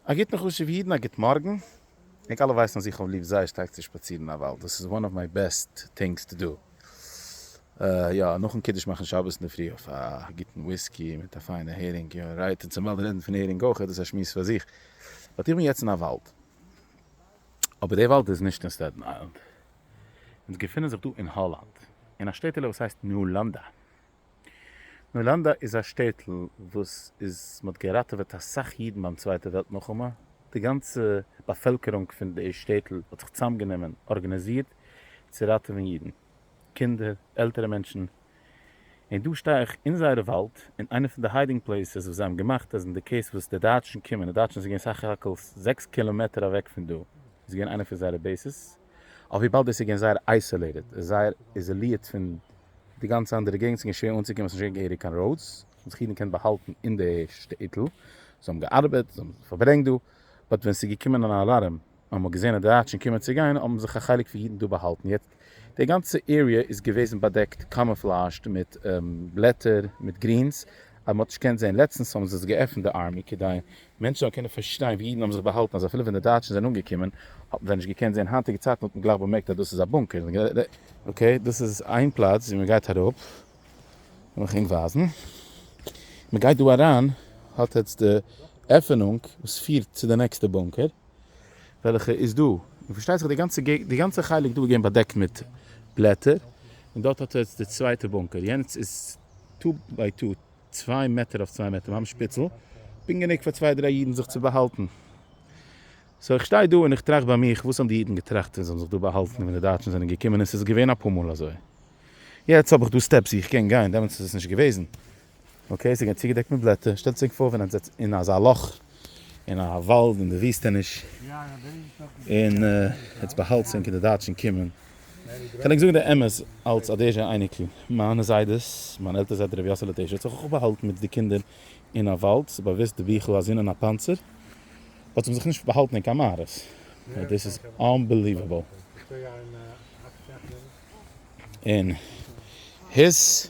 א גוטן חשובע אידן א גוט מארגן, ענק אלע ווייסן אז איך האב ליב זייער שטארק צו שפאצירן אין א וואלד, דאס איז וואן אוו מיי בעסט טינגס טו דא, יא נאכן קידוש מאכן שבת אינדערפרי אויף א גוטן וויסקי מיט א פיינע הערינג, יא רייט און צום וואלד רעדן פון הערינג אויך איז דאס א שמועס פאר זיך, באט איך בין יעצט אין א וואלד, אבער די וואלד איז נישט אין סטעטן איילענד, אונז געפינען זיך דא אין האלאנד, אין א שטעטעלע וואס הייסט נולאנדא, נאלאנדא איז א שטעטל וואס איז מ'האט געראטעוועט אסאך אידן ביים צווייטע וועלט מלחמה, די גאנצע באפעלקערונג פון די שטעטל האט זיך צוזאמגענומען ארגאניזירט צו ראטעווען אידן, קינדער, עלטערע מענטשן, און דא שטיי איך אין זייערע וואלד אין איינע פון די היידינג פלעיסעס וואס זיי האבן געמאכט אז אין די קעיס וואס די דייטשן קומען, די דייטשן איז געווען סך הכל זעקס קילאמעטער אוועק פון דא איז געווען איינע פון זייערע בעיסעס. אויף וויבאלד דאס איז געווען זייער אייסאלעיטעד, זייער איזאלירט פון די גאנצע אנדערע געגנט, ס'איז געווען שווער אנצוקומען, ס'איז נישט געווען געהעריג קיין ראודס, האבן זיך אידן געקענט באהאלטן אין די שטעיטל, זיי האבן געארבעט, זיי האבן פארברענגט דא, באט ווען ס'איז געקומען אן אלארעם, און מ'האט געזען אז די דייטשן קומען צו גיין, האבן זיך א חלק פון אידן דא באהאלטן, יעצט די גאנצע עריע איז געוועזן באדעקט, קאמופלאזשד, מיט בלעטער, מיט גרינס, אז מ'האט נישט געקענט זען, לעצטנס האבן זיי עס געעפנט די ארמי כדי מענטשן זאלן קענען פארשטיין ווי אידן האבן זיך באהאלטן אז אפילו ווען די דייטשן זענען אנגעקומען האבן זיי נישט געקענט זען היינטיגע צייטן האט מען גלייך באמערקט אז דאס איז א בונקער. אקעי דאס איז איין פלאץ ווי מען גייט אראפ וועל איך ענק ווייזן מען גייט דא אריין האט עטס די עפענונג וואס פירט צו די נעקסטע בונקער וועלכע איז דא און פארשטייט זיך די גאנצע געגנט די גאנצע חלק דא איז געווען באדעקט מיט בלעטער און דארט האט עטס די צווייטע בונקער יענץ איז טא ביי טא. צוויי מעטער אויף צוויי מעטער ממש פיצל, פונקט גענוג פאר צוויי דריי אידן זיך צו באהאלטן. סאו איך שטיי דא און איך טראכט ביי מיך וואס האבן די אידן געטראכט ווען זיי האבן זיך דא באהאלטן ווען די דייטשן זענען געקומען און ס'איז געווען אפאר מאל אזוי. יעצט האב איך דא סטעפס ווי איך קען גיין דעמאלטס איז עס נישט געוועזן אקעי ס'איז געווען צוגעדעקט מיט בלעטער שטעלטס ענק פאר ווען ענק זעצט אין אזא לאך אין א וואלד אין די וויסטעניש און עטס באהאלטס ענק און די דייטשן קומען קען איך זאגן די אמת אלץ א דעעשע אייניקל, מיינע זיידעס, מיין עלטער זיידע רבי יאסעלע טעשער האט זיך אויך באהאלטן מיט די קינדער אין א וואלד, ס'איז באוויסט די ביכל א זון אין א פאנצער, האט זיך זיך נישט באהאלטן אין קיין מערות, דאס איז אנבעליוועבל. און היס.